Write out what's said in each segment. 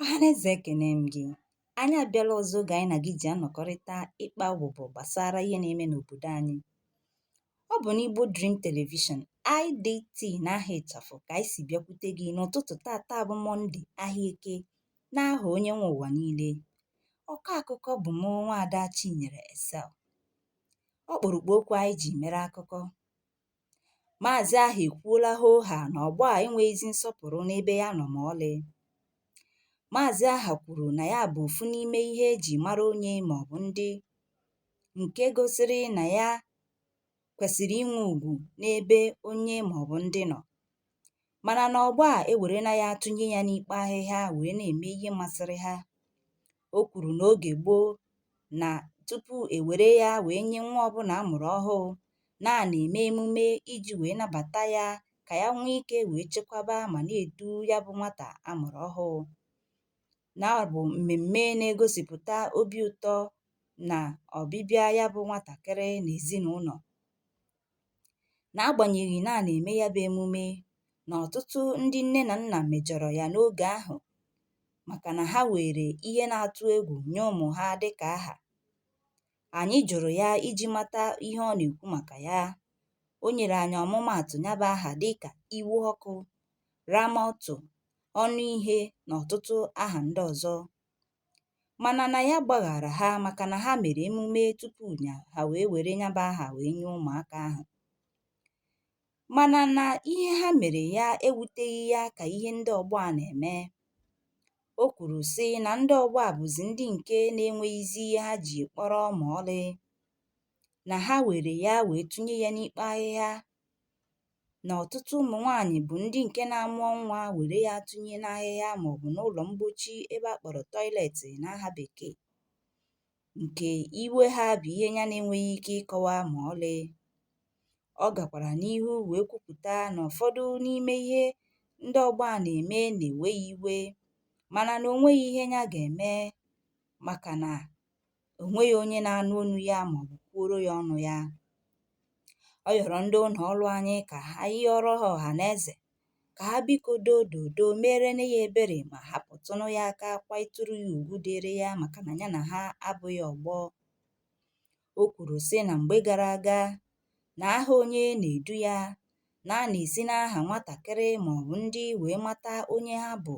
Ọhaneze ekene m gị. Anyị abịala ọzọ oge anyị na gị ji anọkọrịta ịkpa ụbụbọ gbasara ihe na-eme n'obodo anyị. Ọ bụ n'Igbo Dream Television, IDT n'aha ịchafụ ka anyị si bịakwute gị n'ụtụtụ tata bụ Mọnde ahịa eke n'aha onye nwe ụwa niile. Ọkọ akụkọ bụ mụ nwaada Chinyere Esel. Ọkpụrụkpụ okwu anyị ji mere akụkọ. Maazị aha ekwuola hoo haa na ọgbọ a enweghịzi nsọpụrụ n'ebe ya nọ ma ọlị. Maazị aha kwuru na ya bụ ofu n'ime ihe eji mara onye maọbụ ndị nke gosiri na ya kwesịrị inwe ugwu n'ebe onye maọbụ ndị nọ. mana na ọgbọ a ewerela ya tụnye ya n'ikpo ahịhịa wee na-eme ihe masịrị ha o kwuru na oge gboo na tupu ewere ya wee nye nwa ọbụla a mụrụ ọhụụ na a na-eme emume iji wee nabata ya ka ya nwee ike wee chekwaba ma na-edu ya bụ nwata a mụrụ ọhụụ na ọ bụ mmemme na-egosipụta obi ụtọ na ọbịbịa ya bụ nwatakịrị n'ezinụlọ N'agbanyeghị na a na-eme ya bụ emume na ọtụtụ ndị nne na nna mejọrọ ya n'oge ahụ maka na ha weere ihe na-atụ egwu nye ụmụ ha dị ka aha, anyị jụrụ ya iji mata ihe ọ na-ekwu maka ya. O nyere anyị ọmụmaatụ ya bụ aha dị ka iwe ọkụ, ramọtụ, ọnụ ihe na ọtụtụ aha ndị ọzọ. mana na ya gbaghara ha maka na ha mere emume tupu ya ha wee were ya bụ aha wee nye ụmụaka ahụ mana na ihe ha mere ya ewuteghị ya ka ihe ndị ọgbọ a na-eme o kwuru sị na ndị ọgbọ a bụzi ndị nke na-enweghịzi ihe ha ji kpọrọ ma ọlị na ha were ya wee tụnye ya n'ikpo ahịhịa na ọtụtụ ụmụ nwaanyị bụ ndị nke na-amụọ nwa were ya tụnye n'ahịhịa maọbụ n'ụlọ mgbochi ebe a kpọrọ tọịletị n'aha bekee nke iwe ha bụ ihe ya na-enweghị ike ịkọwa ma ọlị. Ọ gakwara n'ihu wee kwupụta na ụfọdụ n'ime ihe ndị ọgbọ a na-eme na-ewe ya iwe mana na o nweghị ihe ya ga-eme maka na o nweghị onye na-anụ onu ya ma ọ bụ kwuoro ya ọnụ ya. Ọ yọrọ ndị ụlọ ọrụ anyị ka ha yọọrọ ha ọha na eze ka ha biko doo dodo meerenụ ya ebere ma hapụtụnụ ya aka kwanyetụrụ ya ugwu dịrị ya maka na ya na ha abụghị ọgbọ. O kwuru, sị, na mgbe gara aga na aha onye na-edu ya na a na-esi n'aha nwatakịrị ma ọ bụ ndị wee mata onye ha bụ,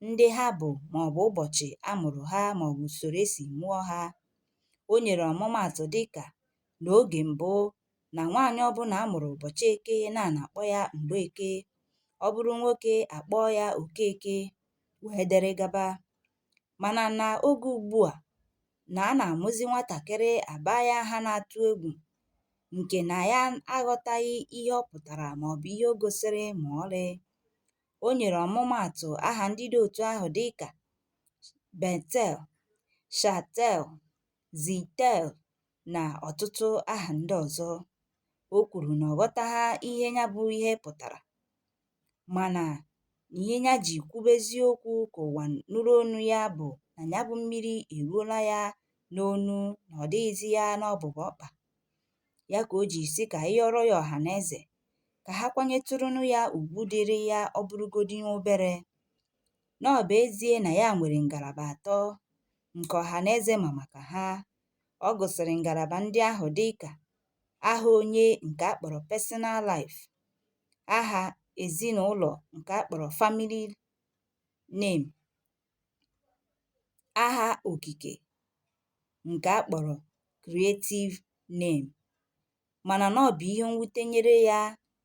ndị ha bụ ma ọ bụ ụbọchị a mụrụ ha ma ọ bụ usoro e si mụọ ha. O nyere ọmụmaatụ dị ka n'oge mbụ na nwaanyị ọbụla a mụrụ ụbọchị eke na a na-akpọ ya Mgbeke, ọ bụrụ nwoke a kpọọ ya Okeke, wee dere gaba. mana na oge ugbu a na a na-amụzi nwatakịrị a baa ya aha na-atụ egwu nke na ya aghọtaghị ihe ọ pụtara maọbụ ihe o gosiri ma ọlị. O nyere ọmụmaatụ aha ndị dị otu ahụ dịka Betel, Shatel, Zitel na ọtụtụ aha ndị ọzọ. O kwuru na ọ ghọtaghị ihe ya bụ ihe pụtara. mana ihe ya ji kwubezie okwu ka ụwa nụrụ onu ya bụ na ya bụ mmiri eruola ya n'onu na ọ dịghịzi ya n'ọbụbụ ọkpa ya ka o ji sị ka anyị yọrọ ya ọha na eze ka ha kwanyetụrụnụ ya ugwu dịrị ya ọ bụrụgodi obere na ọ bụ ezie na ya nwere ngalaba atọ nke ọha na eze ma maka ha ọ gụsịrị ngalaba ndị ahụ dị ka aha onye nke a kpọrọ personal life aha ezinụlọ nke a kpọrọ family name aha okike nke a kpọrọ creative name mana na ọ bụ ihe mwute nyere ya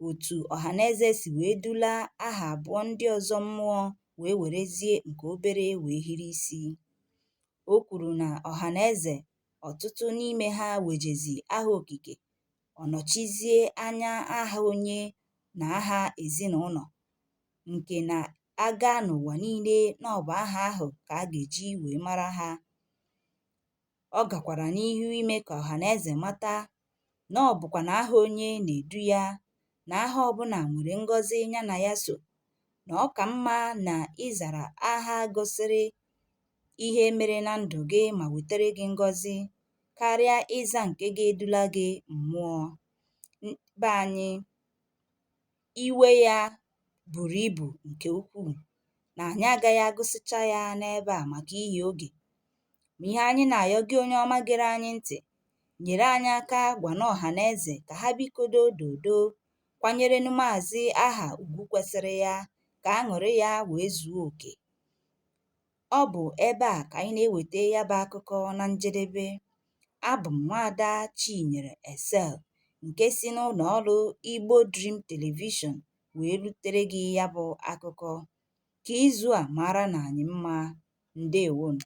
otu ọhaneze si wee dula aha abụọ ndị ọzọ mmụọ wee werezie nke obere wee hiri isi o kwuru na ọhaneze ọtụtụ n'ime ha wejezi aha okike ọ nọchizie anya aha onye na aha ezinụlọ nke na a gaa n'ụwa niile na ọ bụ aha ahụ ka a ga-eji wee mara ha. Ọ gakwara n'ihu ime ka ọha na eze mata na ọ bụkwa na aha onye na-edu ya na aha ọbụla nwere ngọzi ya na ya so na ọ ka mma na ịzara aha gosiri ihe mere na ndụ gị ma wetere gị ngọzi karịa ịza nke ga-edula gị mmụọ be anyị iwe ya buru ibu nke ukwuu na anyị agaghị agụsịcha ya n'ebe a maka ihi oge. Ma ihe anyị na-ayọ gị onye ọma gere anyị ntị, nyere anyị aka gwanụ ọha na eze ka ha biko doo doo doo kwanyerenụ Maazị Aha ugwu kwesịrị ya ka aṅụrị ya wee zuo oke. Ọ bụ ebe a ka anyị na-eweta ya bụ akụkọ na njedebe. Abụ m nwaada Chinyere Esel nke si n'ụlọ ọrụ Igbo Dream Television wee rutere gị ya bụ akụkọ. Ka izu a maaranụ anyị mma. Ndewonụ.